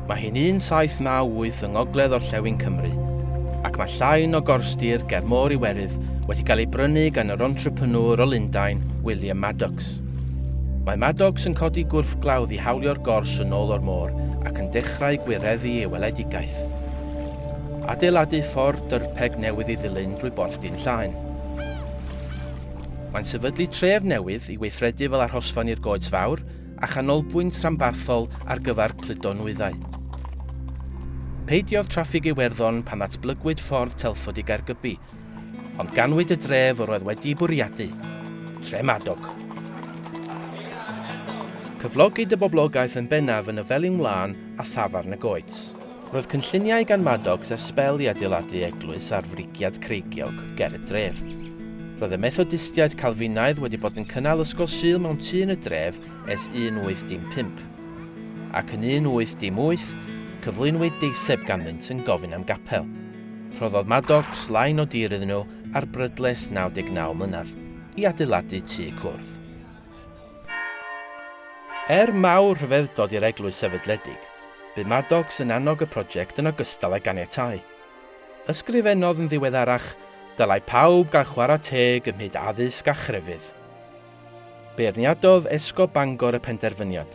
Mae hi'n 1798 yng ngogledd orllewin Cymru, ac mae llain o gorstir ger Môr Iwerydd wedi cael ei brynu gan yr entrepreneur o Lundain, William Maddox. Mae Maddox yn codi gwrthglawdd i hawlio'r gors yn ôl o'r môr ac yn dechrau gwireddu ei weledigaeth. Adeiladu ffordd dyrpeg newydd i ddilyn drwy Borthdin Llaen. Mae'n sefydlu tref newydd i weithredu fel arhosfan i'r goets fawr a chanolbwynt rhanbarthol ar gyfer cludo nwyddau. Peidiodd traffig Iwerddon pan ddatblygwyd ffordd Telford i Gaergybi, ond ganwyd y dref yr oedd wedi'i bwriadu, Tre Madog. Cyflogid y boblogaeth yn bennaf yn y Felin Wlân a thafarn y Goets. Roedd cynlluniau gan Maddox ers sbel i adeiladu eglwys ar frigiad creigiog ger y dref. Roedd y Methodistiaid Calfinaidd wedi bod yn cynnal ysgol Sul mewn tŷ yn y dref ers 1815. Ac yn 1818, cyflwynwyd deiseb ganddynt yn gofyn am gapel. Rhoddodd Maddox lain o dir iddyn nhw ar brydles 99 mlynedd i adeiladu tŷ cwrdd. Er mawr rhyfeddod i'r eglwys sefydledig, bu Maddox yn annog y prosiect yn ogystal â ganiatáu. Ysgrifennodd yn ddiweddarach, Dylai pawb gael chwarae teg ym mhyd addysg a chrefydd. Beirniadodd Esgob Bangor y penderfyniad,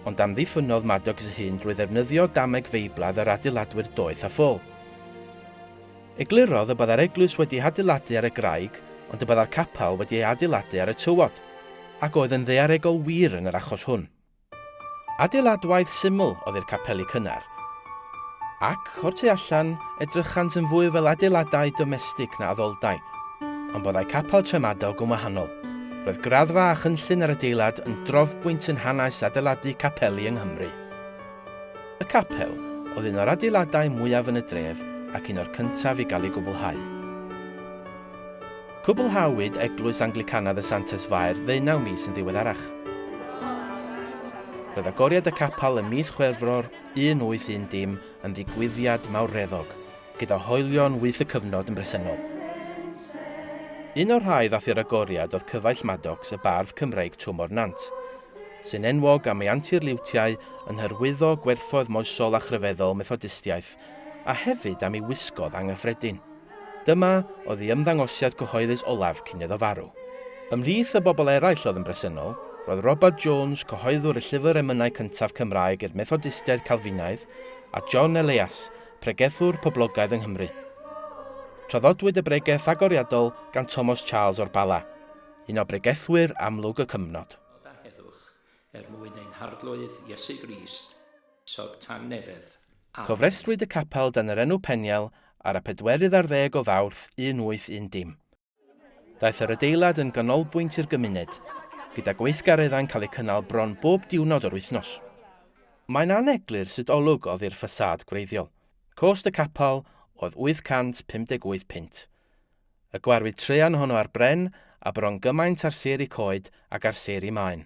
ond amddiffynnodd Maddox ei hun drwy ddefnyddio dameg feiblaidd yr adeiladwyr doeth a ffôl. Eglurodd y byddai'r eglwys wedi ei hadeiladu ar y graig ond y byddai'r capel wedi ei adeiladu ar y tywod, ac oedd yn ddaearegol wir yn yr achos hwn. Adeiladwaith syml oedd i'r capeli cynnar, ac, o'r tu allan, edrychant yn fwy fel adeiladau domestig na addoldai, ond byddai capel Tremadog yn wahanol. Roedd graddfa a chynllun yr adeilad yn drofbwynt yn hanes adeiladu capeli yng Nghymru. Y capel oedd un o'r adeiladau mwyaf yn y dref ac un o'r cyntaf i gael ei gwblhau. Cwblhawyd Eglwys Anglicanaidd y Santes Fair ddeunaw mis yn ddiweddarach. Roedd agoriad y capel ym mis Chwefror 1810 yn ddigwyddiad mawreddog, gyda hoelion wyth y cyfnod yn bresennol. Un o'r rhai ddath i'r agoriad oedd Cyfaill Maddox, y bardd Cymreig Twm o'r Nant. sy'n enwog am ei anturliwtiau yn hyrwyddo gwerthoedd moesol a chryfeddol Methodistiaeth, a hefyd am ei wisgoedd anghyffredin. Dyma oedd ei ymddangosiad cyhoeddus olaf cyn iddo farw. Ymhlith y bobl eraill oedd yn bresennol, roedd Robert Jones, cyhoeddwr y llyfr emynau cyntaf Cymraeg i'r Methodistiaid Calfinaidd, a John Eleas, pregethwr poblogaidd yng Nghymru. Traddodwyd y bregeth agoriadol gan Thomas Charles o'r Bala, un o bregethwyr amlwg y cyfnod. Nod a heddwch er mwyn ein Harglwydd Iesu Grist, sog tangnefedd. Amen. Cofrestrwyd y capel dan yr enw Peniel ar y pedwerydd ar ddeg o Fawrth 1810. Daeth yr adeilad yn ganolbwynt i'r gymuned, gyda gweithgareddau'n cael eu cynnal bron bob diwrnod o'r wythnos. Mae'n aneglur sut olwg oddi'r ffasâd gwreiddiol. Cost y capel oedd 858 punt. Y gwarwyd traean honno ar bren a bron gymaint ar sêr y coed ag ar sêr y maen.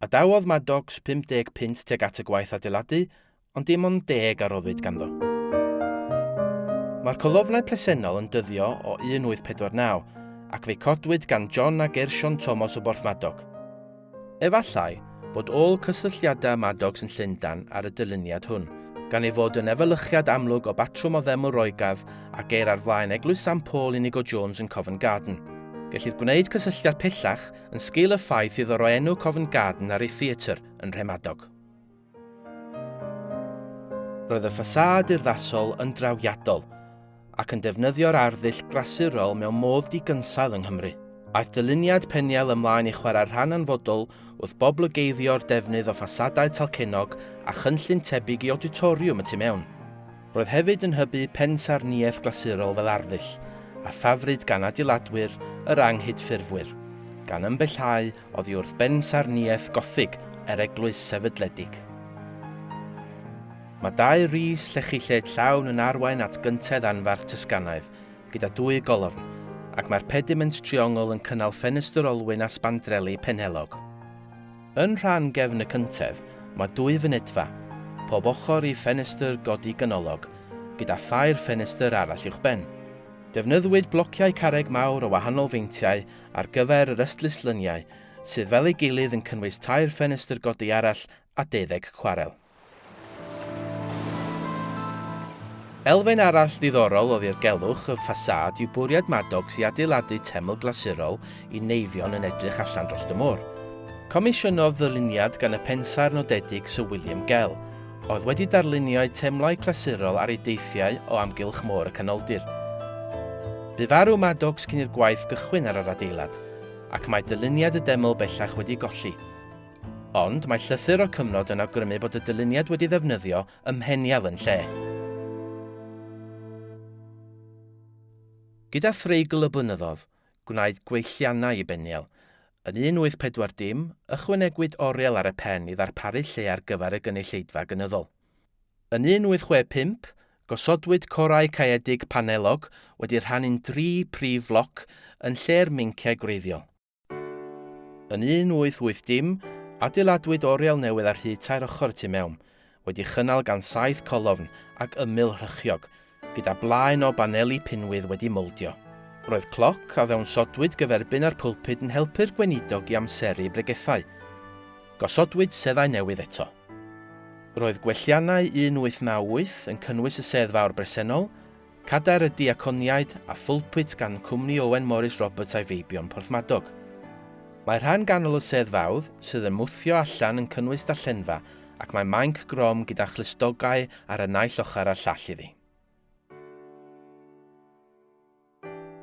Adawodd Maddox 50 punt tuag at y gwaith adeiladu, ond dim ond deg a roddwyd ganddo. Mae'r colofnau presennol yn dyddio o 1849, ac fe'i codwyd gan John a Gershon Thomas o Borthmadog. Efallai bod ôl cysylltiadau Maddox yn Llundain ar y dyluniad hwn, gan ei fod yn efelychiad amlwg o batrwm o ddeml Roegaidd a geir ar flaen Eglwys San Paul Inigo Jones yn Covent Garden. Gellid gwneud cysylltiad pellach yn sgil y ffaith iddo roi enw Covent Garden ar ei theatr yn Nhremadog. Roedd y ffasâd urddasol yn drawiadol ac yn defnyddio'r arddull glasurol mewn modd digynsail yng Nghymru. Aeth dyluniad Peniel ymlaen i chwarae rhan anfodol wrth boblygeiddio'r defnydd o ffasadau talcennog a chynllun tebyg i awditoriwm y tu mewn. Roedd hefyd yn hybu pensaernïaeth glasurol fel arddull a ffafryd gan adeiladwyr yr anghydffurfwyr, gan ymbellhau oddi wrth bensaernïaeth Gothig yr eglwys sefydledig. Mae dau rys llechi lled llawn yn arwain at gyntedd anfarth Tysganaidd, gyda dwy golofn, ac mae'r pediment triongl yn cynnal ffenestr olwyn a sbandreli penhellog. Yn rhan gefn y cyntedd, mae dwy fynedfa, pob ochr i ffenestr godi ganolog, gyda thair ffenestr arall uwchben. Defnyddiwyd blociau carreg mawr o wahanol feintiau ar gyfer yr ystluslyniau, sydd fel ei gilydd yn cynnwys tair ffenestr godi arall a deuddeg cwarel. Elfen arall ddiddorol o ddirgelwch y ffasâd yw bwriad Maddox i adeiladu teml glasurol i neifion yn edrych allan dros y môr. Comisiynodd ddyluniad gan y pensaer nodedig Sir William Gell, oedd wedi darlunio'u teimlau clasurol ar ei deithiau o amgylch Môr y Canoldir. Bu farw Maddox cyn i'r gwaith gychwyn ar yr adeilad, ac mae dyluniad y deml bellach wedi golli. Ond mae llythyr o'r cyfnod yn awgrymu bod y dyluniad wedi ddefnyddio ym Mheniel yn lle. Gyda threigl y blynyddodd, gwnaed gweithiannau i Beniel. Yn 1840, ychwanegwyd oriel ar y pen i ddarparu lle ar gyfer y gynulleidfa gynyddol. Yn 1865, gosodwyd corau caeedig panellog wedi rhannu'n dri phrif floc yn lle'r meinciau gwreiddiol. Yn 1880, adeiladwyd oriel newydd ar hyd tair ochr y tu mewn, wedi chynnal gan saith colofn ac ymyl rhychiog, gyda blaen o baneli pinwydd wedi moldio. Roedd cloc a ddawnsodwyd gyferbyn â'r pulpud yn helpu'r gweinidog i amseru bregethau. Gosodwyd seddau newydd eto. Roedd gwelliannau 1898 yn cynnwys y sedd fawr bresennol, Cadair y Diaconiaid a phulpit gan Cwmni Owen Morris Roberts a'i feibion Porthmadog. Mae rhan ganol y sedd fawdd, sydd yn mwthio allan yn cynnwys darllenfa ac mae mainc grom gyda chlustogau ar y naill ochr a'r llall iddi.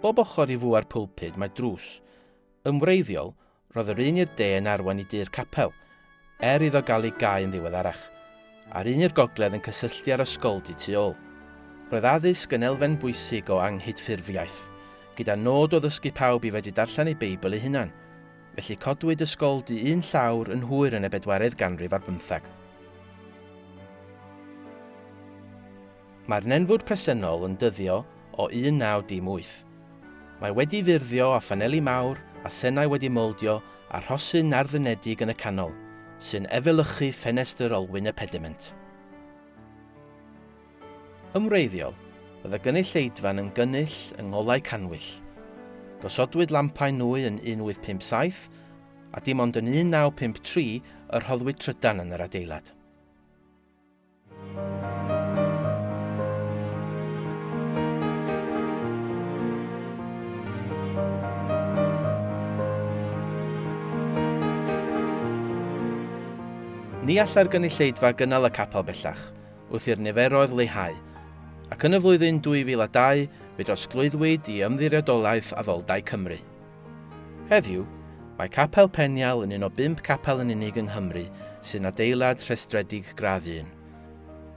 Bob ochr i fua'r pulpud mae drws, yn wreiddiol, Roedd yr un i'r de yn arwain i du'r capel, er iddo gael ei gau yn ddiweddarach, a'r un i'r gogledd yn cysylltu â'r ysgoldy tu ôl. Roedd addysg yn elfen bwysig o anghydffurfiaeth, gyda nod o ddysgu pawb i fedru darllen eu Beibl eu hunain. Felly codwyd ysgoldy un llawr yn hwyr yn y bedwaredd ganrif ar bymtheg. Mae'r nenfwd presennol yn dyddio o 1918. Mae wedi ffurfio â phaneli mawr a senau wedi mowldio a rhosyn narddynedig yn y canol, sy'n efelychu ffenestr olwyn y pediment. Yn wreiddiol, oedd y gynulleidfa'n yn gynull yng ngolau cannwyll. Gosodwyd lampau nwy yn 1857, a dim ond yn 1953 y rhoddwyd trydan yn yr adeilad. Ni allai'r gynulleidfa gynnal y capel bellach, wrth i'r niferoedd leihau, ac yn y flwyddyn 2002 fe drosglwyddwyd i Ymddiriedolaeth Addoldae Cymru. Heddiw, mae Capel Penial yn un o bump capel yn unig yng Nghymru sy'n adeilad rhestredig gradd un.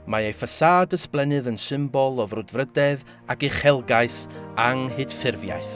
Mae ei ffasâd ysblennydd yn symbol o frwdfrydedd ac uchelgais anghydffurfiaeth.